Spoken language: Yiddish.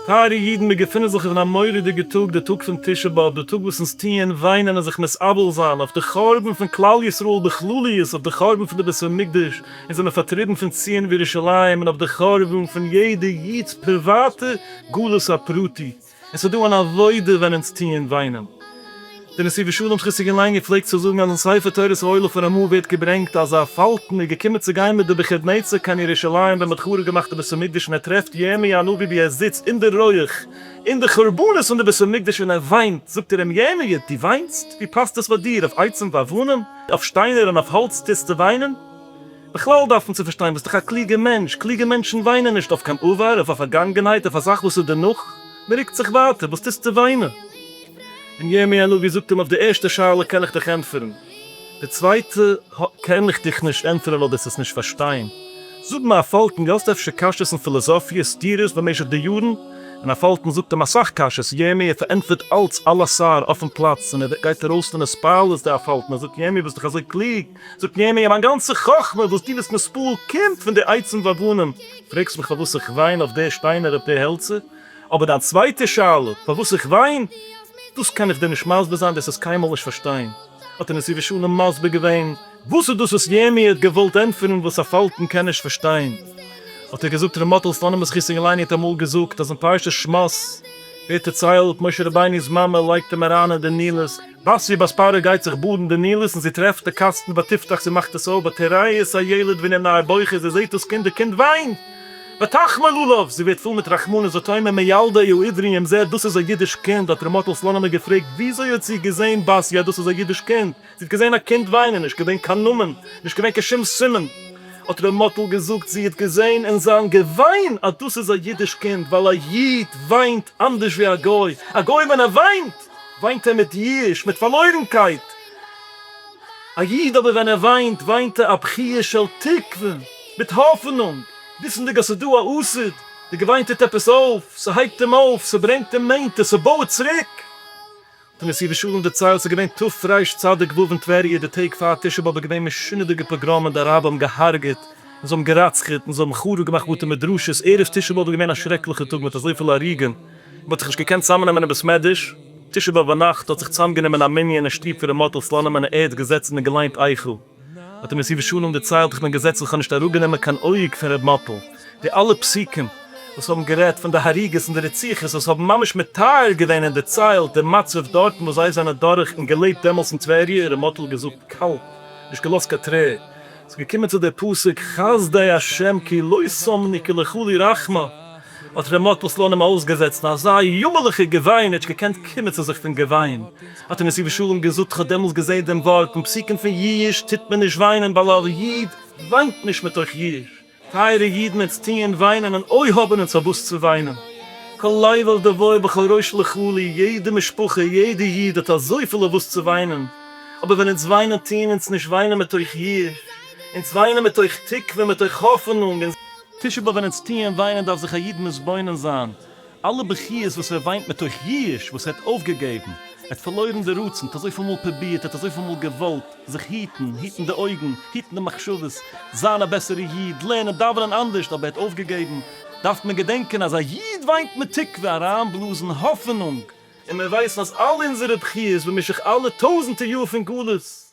טייערע אידן, מיר געפינען זיך אין א מורא'דיגע טאג, די טאג פון תשעה באב, די טאג וואס אונז טוען וויינען און זיך מתאבל זיין אויף די חורבן פון כלל ישראל בכלליות, אויף די חורבן פון די בית המקדש, אונז זענען פארטריבן פון ציון וירושלים, און אויף די חורבן פון יעדע איד'ס פריוואטע גלות הפרטי. עס איז דא אן עבודה ווען אונז טוען וויינען. דער נשיא בשלום שכיסעגען לענגער פלעגט צו זאגן אז אין ספר תורת האוהלה פון רמא ווערט געברענגט אז א פאלקן איז געקומען צו גיין מיט די בגד נצר קיין ירושלים ווען מען האט חרוב געמאכט די בית המקדש און ער טרעפט ירמי' הנביא ווי ער זיצט אין די רויעך און די חורבנות פון די בית המקדש און ער וויינט, זאגט ער אים ירמי' דו וויינסט? ווי פאסט עס פאר דיר? אויף עצים ואבנים? אויף שטיינער און אויף האלץ טוסטו וויינען? בכלל דארף מען צו פארשטיין ביסט דאך א קלוגע מענטש, קלוגע מענטשן וויינען נישט אויף קיין עבר, אויף א פארגאנגענהייט, אויף א זאך וואס איז דערנאך, מען רוקט זיך ווייטער, וואס טוסטו וויינען? און ירמי' הנביא זאגט אים אויף די ערשטע שאלה קען איך דיך ענטפערן, די צווייטע קען איך דיך נישט ענטפערן ווייל דאס עס נישט פארשטיין, זאג מיר א פאלקן, די האסט אפשר קשיות און פילאזאפיע סתירות במשך די יארן, און א פאלקן זאגט אים אסאך קשיות, ירמי' פארענטפערט אלץ אלעס סאר אויפן פלאץ, און ער גייט ארויס פון הספעל, איז דא א פאלקן, ער זאגט ירמי' ביסט דאך אזוי קלוג, זאגט מיר אימער, מיין גאנצע חכמה וואס דו ביסט מספל קומט פון די עצים ואבנים, פרעגסט מיך פארוואס איך וויין אויף די שטיינער אויף די העלצער, אבער דיין צווייטע שאלה, פארוואס איך וויין, דאס קען איך דיר נישט מסביר זיין, דאס וועסט קיינמאל נישט פארשטיין. האט אים נשיא ושלום מסביר געווען וואס איז דאס וואס ירמי' האט געוואלט ענטפערן וואס א פאלקן קען נישט פארשטיין, האט ער געזאגט, ר' מאטעל סלאנימער זכותו יעלה עלינו האט אמאל געזאגט אז אין פרשת שמות ווערט דערציילט משה רבינו'ס מאמע לייגט אים אריין אין די נילוס, בת שבע'ס פרה גייט זיך באדן די נילוס און זי טרעפט די קאסטן ותפתח זי מאכט עס אויף ותראה את הילד ואין עיניו בוכות זי זעהט דאס קינד די קינד וויינט ותחמול עליו זי ווערט פול מיט רחמנות ותאמר מי ילדה הוא עברי אם זעהט דאס איז א אידיש קינד האט ר' מאטל סלאנימער געפרעגט וויאזוי האט זי געזעהן בת י אז דאס איז א אידיש קינד זי האט געזעהן א קינד וויינען נישט געווען קיין נאמען נישט געווען קיין שום סימן האט ר' מאטל געזאגט זי האט געזעהן אין זיין געוויין אז דאס איז א אידיש קינד ווייל א איד וויינט אנדערש ווי א גוי א גוי ווען ער וויינט וויינט ער מיט ייאוש, מיט פארלוירנקייט. א איד אבער ווען ער וויינט, וויינט ער א בחי' של תקווה, מיט האפענונג, וויסענדיג אז ס'איז דא א עתיד, די געוויין טוט עפעס אויף, ס'הייבט אים אויף, ס'ברענגט אים נענטער, ס'בויעט צוריק. האט אים נשיא ושלום דערציילט, ס'איז געווען ת' פרייש צדיק ו' אין טבריה, די טעג פאר תשעה באב איז געווען משונה'דיגע פאגראמען, די אראבער האבן געהארגעט, און זיי האבן געראצחעט, און זיי האבן חרוב געמאכט בתי מדרשות, ערב תשעה באב איז געווען א שרעקליכע טאג מיט אזויפיל הרוגים, מען האט זיך נישט געקענט צוזאמנעמען אין בית מדרש, תשעה באב ביינאכט האט זיך צוזאמגענומען אין א מנין אין שטוב פון ר' מאטל סלאנים און ער האט געזעצן און געליינט איכה, האט אים נשיא ושלום דערציילט איך בין געזעצן איך האב נישט אראפגענומען קיין אויג פון ר' מאטל, די אלע פסוקים וואס האבן גערעדט פון די הריגות און די רציחות וואס האבן ממש מתאר געווען און דערציילט די מצב דארטן וואס זיי זענען דורך און געלעבט דעמאלס אין טבריה, ר' מאטל האט געזאגט קאלט, נישט געלאזט קיין טרער, ס'איז געקומען צו די פסוק חסדי השם כי לא שמני כי לך לי רחמה, האט ר' מאטל סלאנים אויסגעזעצט אזא יאמערליכע געוויין, ער האט נישט געקענט קומען צו זיך פון געוויין, האט אים נשיא בשלום געזאגט איך האב דעמאלס געזעהן דעם ווארט און פסוקים פון ייאוש טוט מען נישט וויינען ווייל א איד וויינט נישט מתוך ייאוש, טייערע אידן עטס טוען וויינען און אוי האבן אונז אויף וואס צו וויינען, כל לייבל דבואי בכל ראש לחולי, יעדע משפחה יעדע איד האט אזויפיל אויף וואס צו וויינען, אבער ווען אונז וויינען טוען אונז נישט וויינען מתוך יאוש, אונז וויינען מתוך תקווה מתוך האפענונג, און. תשפ ב ווען אונז טוען וויינען דארף זיך א איד מתבונן זיין. אלע בכיות וואס ער וויינט מתוך ייאוש וואס ער האט אויפגעגעבן, ער האט פארלוירן די רצון, ער האט אזויפיל מאל פרובירט, ער האט אזויפיל מאל געוואלט זיך היטן, היטן די אויגן, היטן די מחשבות, זיין א בעסערע איד, לערנען דאווענען אנדערשט, אבער ער האט אויפגעגעבן, דארף מען געדענקען אז א איד וויינט מיט תקווה, אריינבלאזן האפענונג, און מיר ווייסן אז אלע אונזערע בכיות במשך אלע טויזענטער יאר פון גלות,